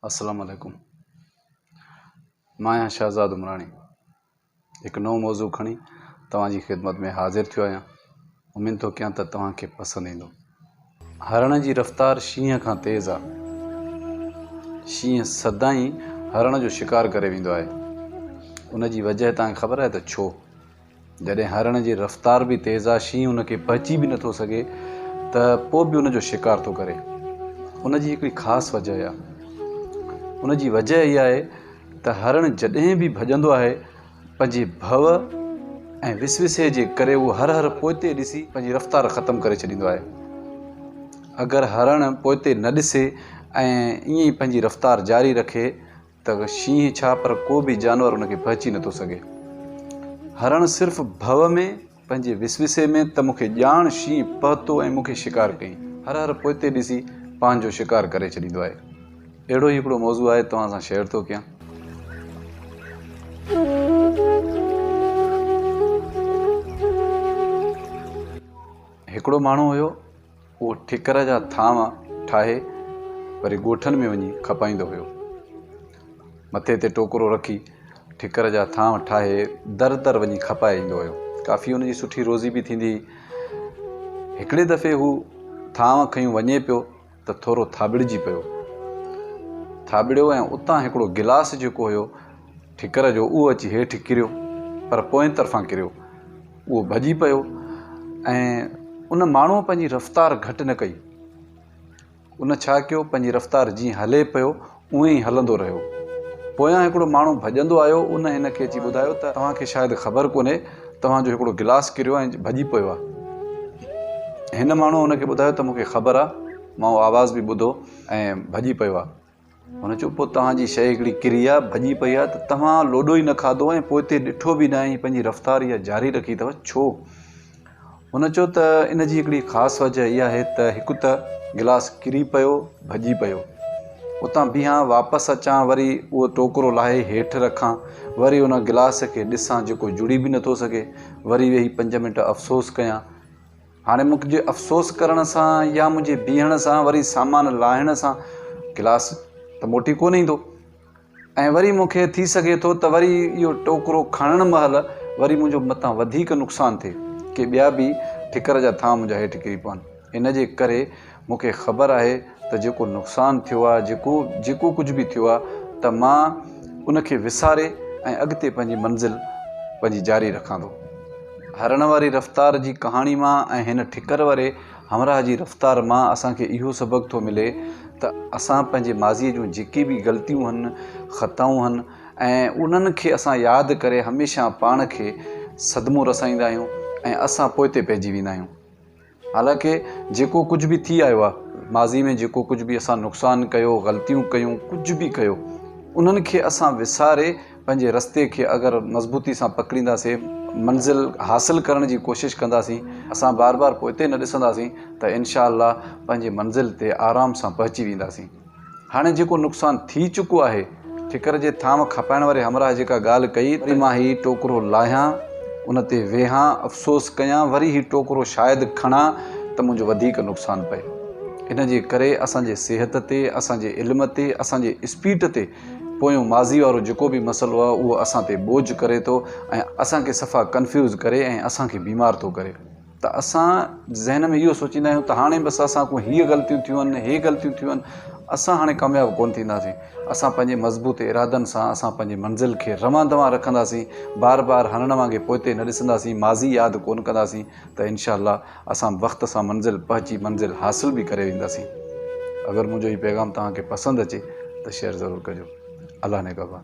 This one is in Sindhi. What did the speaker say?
اسلام عليڪم مان آهيان شهزاد عمراڻي هڪ نئون موضوع کڻي توهان جي خدمت ۾ حاضر ٿيو آهيان اميد ٿو ڪيان ته توهان کي پسند ايندو هرڻ جي رفتار شينهن کان تيز آ شينهن سدائين هرڻ جو شڪار ڪري ويندو آهي ان جي وجه تان کي خبر آهي ته ڇو جڏهن هرڻ جي رفتار به تيز آ، شينهن ان کي پهچي به نٿو سگهي ته پوء به ان جو شڪار ٿو ڪري. ان جي هڪڙي خاص وجهه آ. ان جي وجهه اها آهي ته هرڻ جڏهن به ڀڄندو آهي پنهنجي ڀؤ ۽ وسوسي جي ڪري اهو هر هر پوئتي ڏسي پنهنجي رفتار ختم ڪري ڇڏيندو آهي. اگر هرڻ پوئتي نه ڏسي ۽ ائين ئي پنهنجي رفتار جاري رکي ته. ته شينهن ڇا پر ڪو به جانور ان کي پهچي نه ٿو سگهي. هرڻ صرف ڀو ۾ پنهنجي وسوسي ۾ ته مون کي ڄاڻ شينهن پهتو ۽ مون کي شڪار ڪيئي هر هر پوئتي ڏسي پنهنجو شڪار ڪري ڇڏيندو آهي. اهڙو ئي هڪڙو موضوع آهي توهان سان شيئر ٿو ڪيان. هڪڙو ماڻهو هيو. اهو ٺڪر جا ٿانو ٺاهي وري ڳوٺن ۾ وڃي کپائيندو هيو. مٿي تي ٽوڪرو رکي ٺڪر جا ٿانو ٺاهي در در وڃي کپائي ايندو هيو. ڪافي هن جي سٺي روزي به ٿيندي هئي. هڪڙي دفعي هو ٿانو کنيون وڃي پيو ته ٿورو ٿاٻڙجي پيو. ٿاٻڙيو ۽ اتان هڪڙو گلاس جيڪو هيو ٺڪر جو اهو اچي هيٺ ڪريو پر پوئين طرفان ڪريو. اهو ڀڄي پيو ۽ ان ماڻهوء پنهنجي رفتار گهٽ نه ڪئي. ان ڇا ڪيو پنهنجي رفتار جيئن هلي پيو اونئين ئي هلندو رهيو. پويان هڪڙو ماڻهو ڀڄندو آيو ان هن کي اچي ٻڌايو ته توهان کي شايد خبر ڪونهي توهان جو هڪڙو گلاس ڪريو ۽ ڀڄي پيو آ. هن ماڻهوء ان کي ٻڌايو ته مون کي خبر آ مان اهو آواز به ٻڌو ۽ ڀڄي پيو آ. هن چيو، پوء توهان جي شيء هڪڙي ڪري آهي، ڀڄي پئي آهي ته توهان لوڏو ئي نه کاڌو ۽ پوء تي ڏٺو به نه ۽ پنهنجي رفتار اها جاري رکي اٿو، ڇو؟ هن چيو ته ان جي هڪڙي خاص وجه اها آهي ته هڪ ته گلاس ڪري پيو، ڀڄي پيو. اتان بيهان، واپس اچان، وري اهو ٽوڪرو لاهي هيٺ رکان، وري ان گلاس کي ڏسان جيڪو جڙي به نٿو سگهي، وري ويهي پنج منٽ افسوس ڪيان، هاڻي مون کي افسوس ڪرڻ سان يا منهنجي بيهڻ سان وري سامان لاهڻ سان گلاس ته موٽي ڪونه ايندو ۽ وري مون کي ٿي سگهي ٿو ته وري اهو ٽوڪرو کڻڻ مهل وري منهنجو متان وڌيڪ نقصان ٿئي ڪي ٻيا به ٺڪر جا ٿانء منهنجا هيٺ ڪري پون ان جي ڪري مون کي خبر آهي ته جيڪو نقصان ٿيو آهي، جيڪو جيڪو ڪجهه به ٿيو آهي ته مان ان کي وساري ۽ اڳتي پنهنجي منزل پنهنجي جاري رکان ٿو. هرڻ واري رفتار جي ڪهاڻي مان ۽ هن ٺڪر واري همراهه جي رفتار مان اسان کي اهو سبق ٿو ملي ته اسان پنهنجي ماضي جون جيڪي به غلطيون هن، خطائون هن ۽ انهن کي اسان ياد ڪري هميشه پاڻ کي صدمو رسائيندا آهيون ۽ اسان پوئتي پئجي ويندا آهيون. حالانڪه جيڪو ڪجهه به ٿي آيو آهي، ماضي ۾ جيڪو ڪجهه به اسان نقصان ڪيو، غلطيون ڪيون، ڪجهه به ڪيو، انهن کي اسان وساري پنهنجي رستي کي اگر مضبوطي سان پڪڙينداسين، منزل حاصل ڪرڻ جي ڪوشش ڪنداسين، اسان بار بار پوئتي نه ڏسنداسين ته انشاء الله پنهنجي منزل تي آرام سان پهچي وينداسين. هاڻي جيڪو نقصان ٿي چڪو آهي، ٺڪر جي ٿانو کپائڻ واري همراهه جيڪا ڳالهه ڪئي، وري مان هي ٽوڪرو لاهيان، ان تي ويهان، افسوس ڪيان، وري هي ٽوڪرو شايد کڻان ته منهنجو وڌيڪ نقصان پئي. ان جي ڪري اسان جي صحت تي، اسان جي علم تي، اسان جي اسپيٽ تي پويون ماضي وارو جيڪو به مسئلو آهي، اهو اسان تي ٻوجهه ڪري ٿو ۽ اسان کي صفا ڪنفيوز ڪري ۽ اسان کي بيمار ٿو ڪري. ته اسان ذهن ۾ اهو سوچيندا آهيون ته هاڻي بس اسان کان هي غلطيون ٿيون آهن هي غلطيون ٿيون آهن اسان هاڻي ڪامياب ڪونه ٿينداسين اسان پنهنجي مضبوط ارادن سان اسان پنهنجي منزل کي روان دوان رکنداسين بار بار هرڻ وانگي پوئتي نه ڏسنداسين ماضي ياد ڪونه ڪنداسين ته انشاء الله اسان وقت سان منزل پهچي منزل حاصل به ڪري وينداسين اگر منهنجو هي پيغام توهان کي پسند اچي ته شيئر ضرور ڪجو الله نگهبان